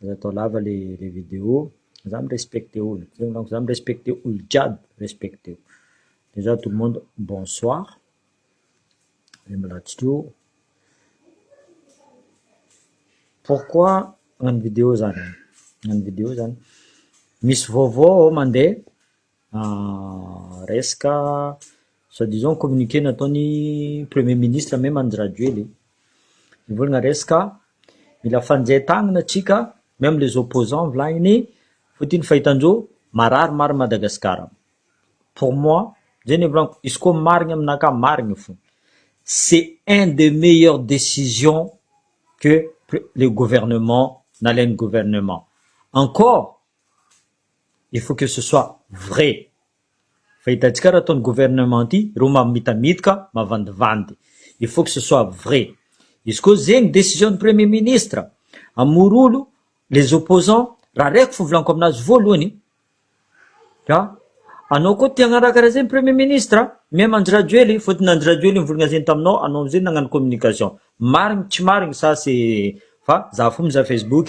Aza atao lava le le video, za mi-respecte olo, zegny manko za mi-respecte olo jiaby, respecteo. Dejà tout le monde bonsoir, le milatsaka io, pourquoi magnano video zany, magnano video zany misy vaovao mande. Ahh resaka soit disant communiqué nataon'ny premier ministre même Andry Rajoely e, mivolagna resaka mila fanjay tagnana tsika même les opposants volagniny fotony ny fahitan'zao marary marigny Madagascar, pour moi zay ny evorako izy koa marigny aminakahy zay ny marigny fo c'est un de meilleur décision que le gouvernement nalain'ny gouvernement encore. Il faut que ce soit vrai fa hitantsika raha ataon'ny gouvernement ity ireo mamitamitaka mavandivandy il faut que ce soit vrai izy koa zegny décision ny premier ministre hamorolo les opposants raha reko fo volaniko aminazy voalohany ka anao koa te hagnaraka raha zegny premier ministre même Andry Rajoely fôtony Andry Rajoely nivolagna zegny taminao anao amizay nagnano communication marigny tsy marigny sa c'est fa za fo mizaha facebook.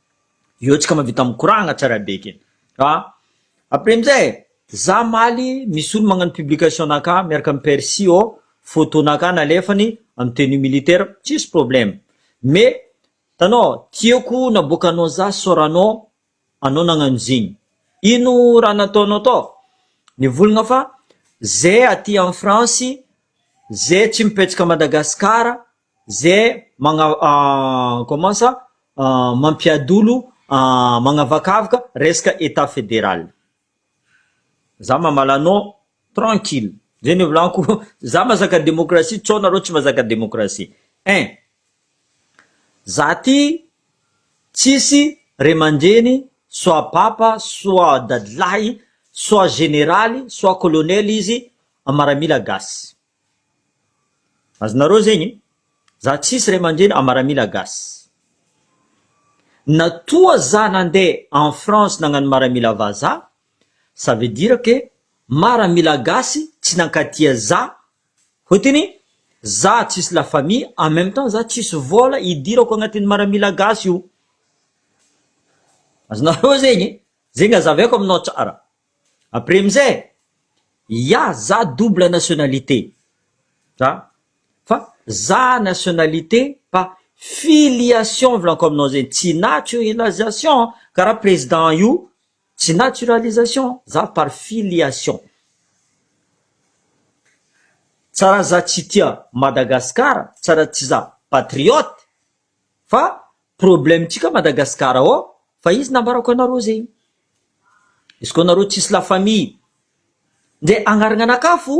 Eo tsika mavita mikoragna tsara be ke. Ka après amizay za maly misy olo magnano publication anakahy miaraka am percy ô photo nakahy nalefany am tenue militaire tsisy problème mais tanao tiako naboakanao za sorano anao nagnano zegny ino raha nataonao tao nivolagna fa ze aty en france ze tsy mipetsaka Madagascar ze magna comment ça mampiadolo magnavakavaka resaka etat federal za mamala anao tranquille ze nivolanko za mazaka demokrasia co nareo tsy mazaka demokrasia ein za ty tsisy ray mandreny soit papa soit dadilahy soit generaly soit colonel izy maramila gasy Azonareo zegny? Za tsisy ray aman-dreny a maramila gasy. Na toa za nandeha en France nagnano maramila vazaha, ça veut dire que maramila gasy tsy nankatia za hotiny za tsisy la famille en même temps za tsisy vola hidirako agnatin'ny maramila gasy io. Azonareo zegny? Zegny azavaiko aminao tsara. Après amizay ya za double nationalité za fa za nationalité fa filiation volako aminao zegny tsy naturalisation karaha président io tsy naturalisation za par filiation tsa raha za tsy tia Madagascar tsa raha tsy za patriote. fa problème tsika Madagascar ao fa izy nambarako anareo zegny izy koa nareo tsisy la famille nde agnaragnanakafo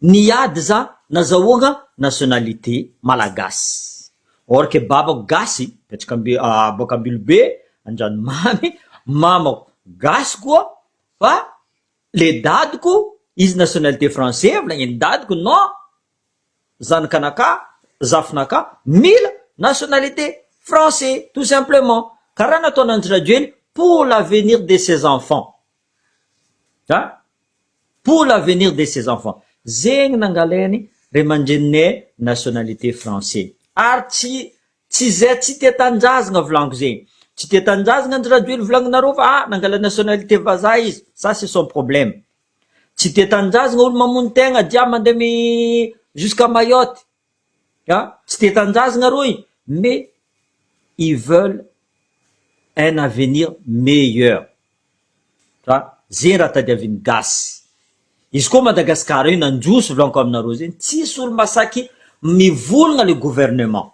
ny ady za nazahoagna nationalité malagasy or que babako gasy betsaka amby boaka Ambilobe Andranomamy mamako gasy koa fa le dadiko izy nationalité français volagniny dadiko non Zanak'anakà, zafinakà, mila nationalité français tout simplement. Karaha nataon'Andry Rajoely pour l'avenir de ses enfants. An? Pour l'avenir de ses enfants. Zegny nangalain'ny ray aman-dreninay nationalité français. Ary tsy tsy zay tsy tia tanindrazagna volagno zegny. Tsy tia tanindrazagna Andry Rajoely volagninareo fa ah nangalany nationalité vazaha izy, ça c'est son problème. Tsy dia tanindrazagna olo mamono tegna dia mandeha mi jusqu'à Mayotte a! Tsy dia tanindrazagna rô i mais ils veulent un avenir meilleur fa ze ny raha tadiavin'ny gasy. Izy koa Madagasikara io nandroso volanko aminareo zegny tsisy olo masaky mivolagna le gouvernement.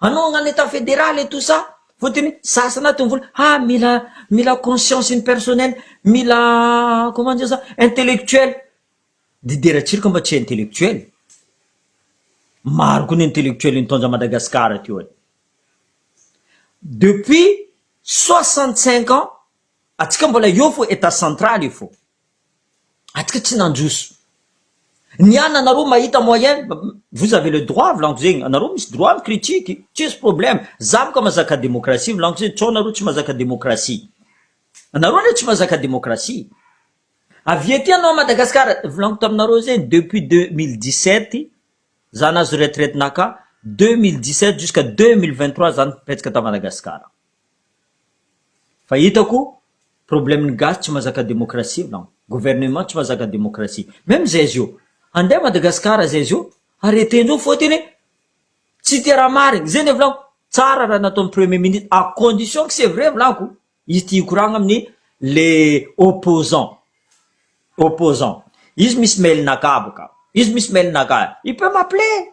Anohagna ny etat federal et tout ça fotony sasana aty mivola ha mila mila conscience ny personnel mila comment dire ça intellectuel de de ratsiraka mba tsy intellectuel maro koa ny intellectuel nitondra Madagascar aty ôhatra depuis soixante cinq ans atsika mbola eo fô etat central io fô. Atsika tsy nanjoso. Ny an anareo mahita moyen vous avez le droit volagno zegny anareo misy droit mi critique tsisy problème za mo ka mazaka demokrasia volagno zegny tsao nareo tsy mazaka demokrasia anareo anie tsy mazaka demokrasia avy ety anao Madagascar volagno taminareo zegny depuis deux mille dix sept za nahazo retraite naka deux mille dix sept jusqu'à deux mille vingt trois za nipetsaka ta Madagascar. Fa hitako problème ny gasy tsy mazaka démocratie non gouvernement tsy mazaka démocratie même zay zio handeha Madagascar zay zio arrêter ndreo fotony tsy te raha marigny zay ndray volako tsara raha nataony premier ministre à condition que c'est vrai volako izy tia hikoragna aminy le opposant opposant izy misy mail naka bôka izy misy mail naka il peut m'appeler.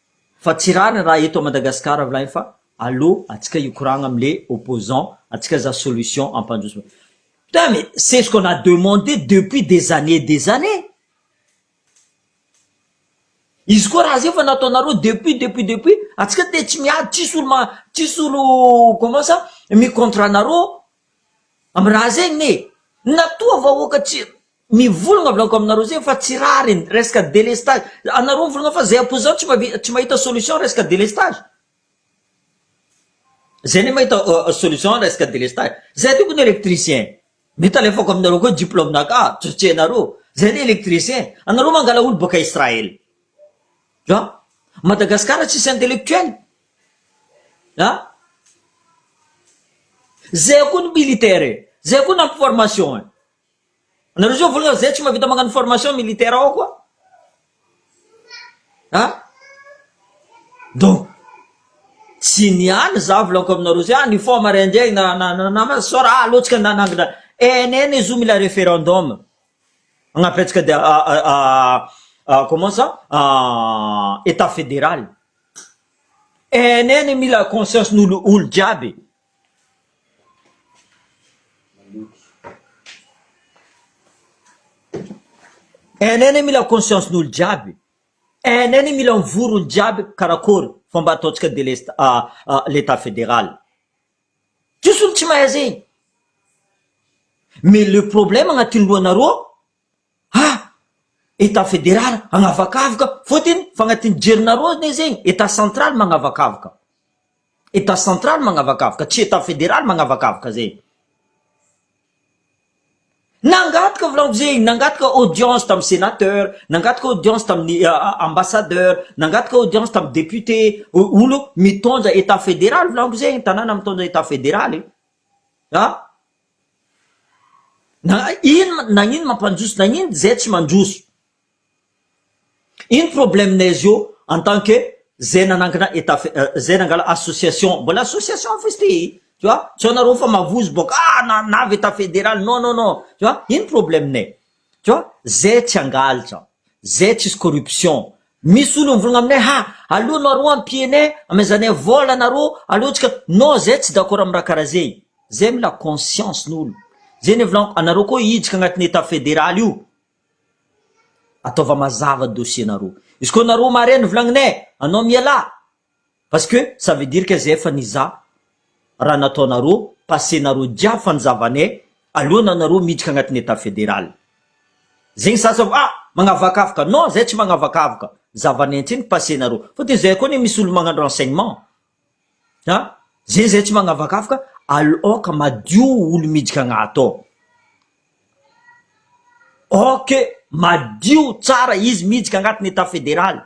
Fa tsy rariny raha eto à Madagascar avy lahy fa allo atsika hikoragna am le opposant atsika za solution ampandroso putain mais c'est ce qu'on a demandé depuis des années et des années izy koa raha zay efa nataonareo depuis depuis depuis atsika te tsy miady tsisy olo ma tsisy olo comment ça mi contre anareo am raha zegny e natoa vahoaka tsy Mivolagna blanco aminareo zay fa tsy rariny resaka délestage anareo mivolagna fa zay apoizao tsy mahavita tsy mahita solution resaka délestage zay ne mahita solution resaka délestage zay tokony ho électricien nety alefako aminareo koa diplôme naka tsy tsy hainareo zay ne électricien anareo mangala olo boaka Israël an Madagascar tsisy intellectuel an zay koa ny militaire e zay koa ny ampiformation e. Anareo zao vola zay tsy mavita magnano formation militaire ao koa a donc tsy ny any za volako aminareo zay any fo mare indray na na na na sora ah aleo tsika nanangina ENN izy io mila referendum hagnampy antsika dia a comment ça etat federal ENN mila conscience n'olo olo jiaby. Hainay anie mila conscience ny olo jiaby e, hainay anie mila mivory olo jiaby karakôry fomba ataontsika delesta l'etat federal, tsisy olo tsy mahay zegny, mais le problème agnatin'ny lohanareo ao Ah! Etat fédéral agnavakavoka fotiny fa agnatin'ny jerinareo anie zegny etat central magnavakavoka, etat central magnavakavoka tsy etat fédéral magnavakavoka zegny. Nangataka volagno zegny, nangataka audience tamin'ny sénateur, nangataka audience tamin'ny ambassadeur, nangataka audience tamin'ny député, olo mitondra etat fédéral volagno zegny, tanàna mitondra etat fédéral e! Ah! Na ino na ino mampandroso na ino zay tsy mandroso. Ino problème nay zio en tant que zay nanangana état fe- zay nangala association mbola association fo izy ty tu vois, tsy anareo fa mavozo boka ah na- navy état fédéral non non non tu vois, ino problème nay. Tu vois, zay tsy hangaltra, zay tsisy corruption, misy olo mivolagna aminay ha, aleo nareo ampianay, amezanay vola nareo, aleo tsika, non zay tsy d'accord am raha karaha zay, zay mila conscience n'olo, zay nivolagno, anareo koa hiditra agnatin'ny etat federal io, ataova mazava dossier nareo, izy koa nareo marin ny volagninay, anao mialà, Parce que ça veut dire que zay efa nizaha raha nataonareo, passé nareo jiaby fa ny zava-ne alohana nareo miditra agnatin'ny Etat Fédéral. Zegny sasa ah magnavakavaka, non zay tsy magnavakavaka, zava-ne ntsiny ny passé nareo. Fa de zay koa anie misy olo magnano renseignement a! Zegny zay tsy magnavakavaka, al oka madio olo miditra agnaty ao, ok madio tsara izy miditra agnatin'ny Etat Fédéral.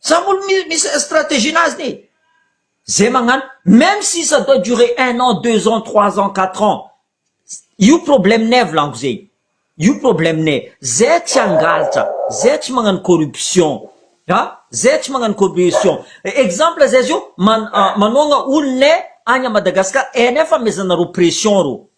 Samy olona misy strategie-nazy ne. Zay magnano même si ça doit durer un an, deux ans, trois ans, quatre ans, io problème-nay volaniko zegny, io problème-nay, zay tsy hangalatra, zay tsy magnano corruption a, zay tsy magnano corruption, exemple zay zao man- manohagna olonay agny à Madagascar, hainay fa amezanareo pression reo,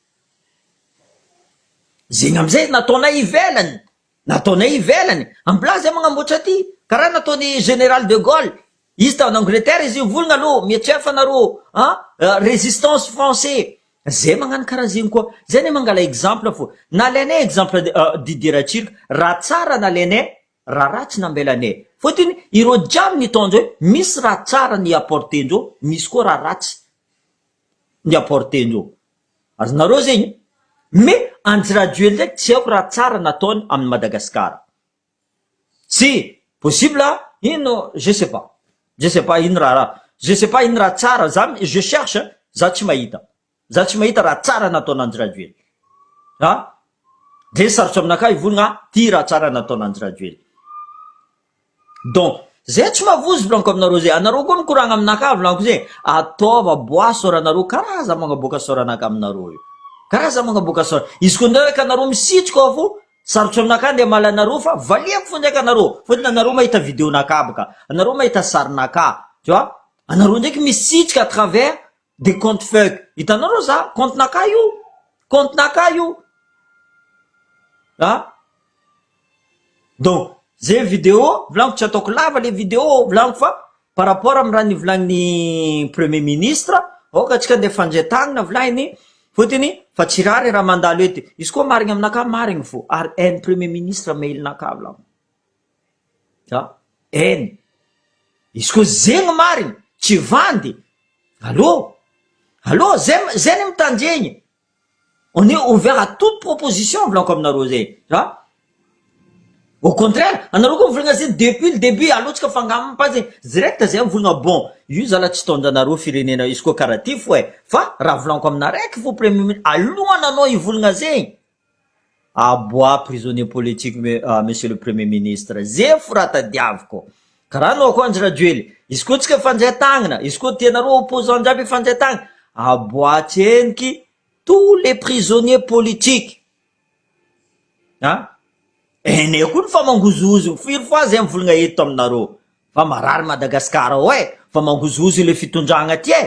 zegny amizay nataonay ivelany. Nataonay ivelany am blaha zay magnamboatra aty karaha nataony général de Gaulle izy tany Angleterre izy io volgna alou mietrefa anareo a résistance français zay magnano karaha zegny koa zay ne mangala exemple fô nalainay exemple Didier Ratsiraka raha tsara nalainay raha ratsy nambelanay fôtony ireo jiaby nitondra io misy raha tsara ni apporter ndreo misy koa raha ratsy ni apporter ndreo. Ary nareo zegny me anjy rajoely ndraiky tsy aiko raha tsara nataony aminy madagascar tsy possible ino je sais pas je sais pas ino raha je sais pas ino raha tsara za je cherche za tsy mahita za tsy mahita raha tsara nataony anjy rajoely a de sarotro aminakahy hivolagna ty raha tsara nataony anjy rajoely. Donc zay tsy mavozo volanko aminareo zay anareo koa mikoragna aminakahy volanko zay ataova bois soranareo karaha aza magnaboaka soranaka aminareo io karaha za magnaboaka sora izy koa ndray ka anareo misitrika ao fo sarotro aminakahy ndray mala anareo fa valiako fo ndraika anareo fotony anareo mahita video nakahy baka anareo mahita sarinakahy tu vois anareo ndraiky misitrika à travers de compte fake hitanao reo za compte naka io compte naka io ah donc ze video volagno tsy ataoko lava le video volagno fa par rapport am raha nivolagniny premier ministre aoka atsika ndeha fandre tagnina volagny fotony fa tsy rah le raha mandalo ety izy koa marigny aminakahy marigny fo ary any premier ministre mail naka volagno a eny izy koa zegny marigny tsy vandy allo allo zay zay ny mitandregny on est ouvert à toute proposition volaniko aminareo zegny a au contraire anareo koa mivolagna zegny depuis le debut alohantsika mifangamagna fa zegny direct zay mivolagna bon io zala tsy taon-janareo firenena izy koa karaha ty fo e fa raha volaniko aminareo eky fo premier mi- alohananao hivolagna zegny Ah bois prisonnier politique me ah monsieur le premier ministre ze f'raha tadiaviko karaha anao koa Andry Rajoely izy koa tsika fandray tagnana izy koa tia nareo opposant jiaby hifandray tagnana ah bois tsy heniky tous les prisonniers politiques ah eneh koa ny fa mangozohozo firy fois zay mivolagna eto aminareo fa marary Madagascar ao eh fa mangozohozo le fitondragna ty eh.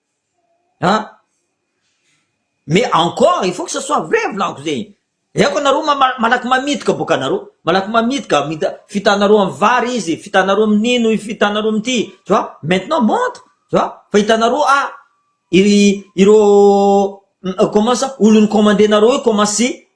An! Mais encore il faut que ça soit vrai volaniko zay Aiko anareo malaky mamitaka boka anareo malaky mamitaka fitanareo amin'ny vary izy fitanareo amin'ny ino fitanareo amin'ity tu vois maintenant montre tu vois fa hitanareo ah ireo comment ça olon'ny commander-nareo io commence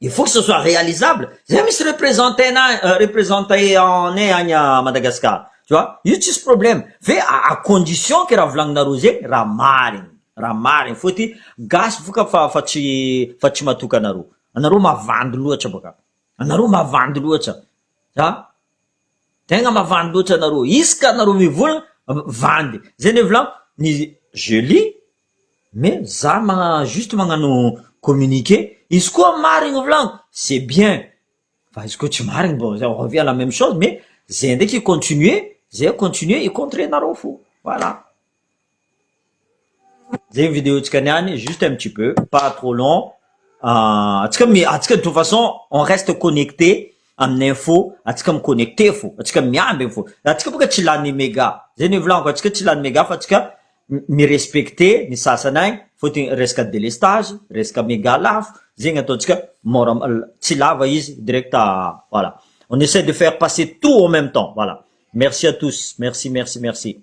Il faut que ce soit réalisable. Zay misy representenay, representenay agny à Madagascar. Tu vois? Io tsisy problème. Fe à condition que raha volagninareo zegny raha marigny, raha marigny fô ty gasy boka fa fa tsy fa tsy matoky anareo. Anareo mavandy loatra boka. Anareo mavandy loatra. Zah, tegna mavandy loatra anareo. Isaka anareo mivolagna, vandy. Zay ne volagno, ny je lis, Mais za magna juste magnano communiqué, izy koa marigny volagno c'est bien, fa izy koa tsy marigny bon on revient à la meme chose, mais zay ndraiky i continuer, zay continuer i contrer nareo fo, voilà. Zay ny video tsika niany, juste un petit peu, pas trop long, antsika mi- antsika de toute façon on reste connecté amin'ny info, antsika mi connecté fo, antsika miambigny fo, antsika boka tsy lany mega, zay ny volagno, antsika tsy lany mega fa antsika mi-respecter ny sasany agny fôtony resaka délestage, resaka méga lafo zegny ataontsika môra tsy lava izy direct voilà on essaie de faire passer tout en même temps voilà merci à tous merci merci merci.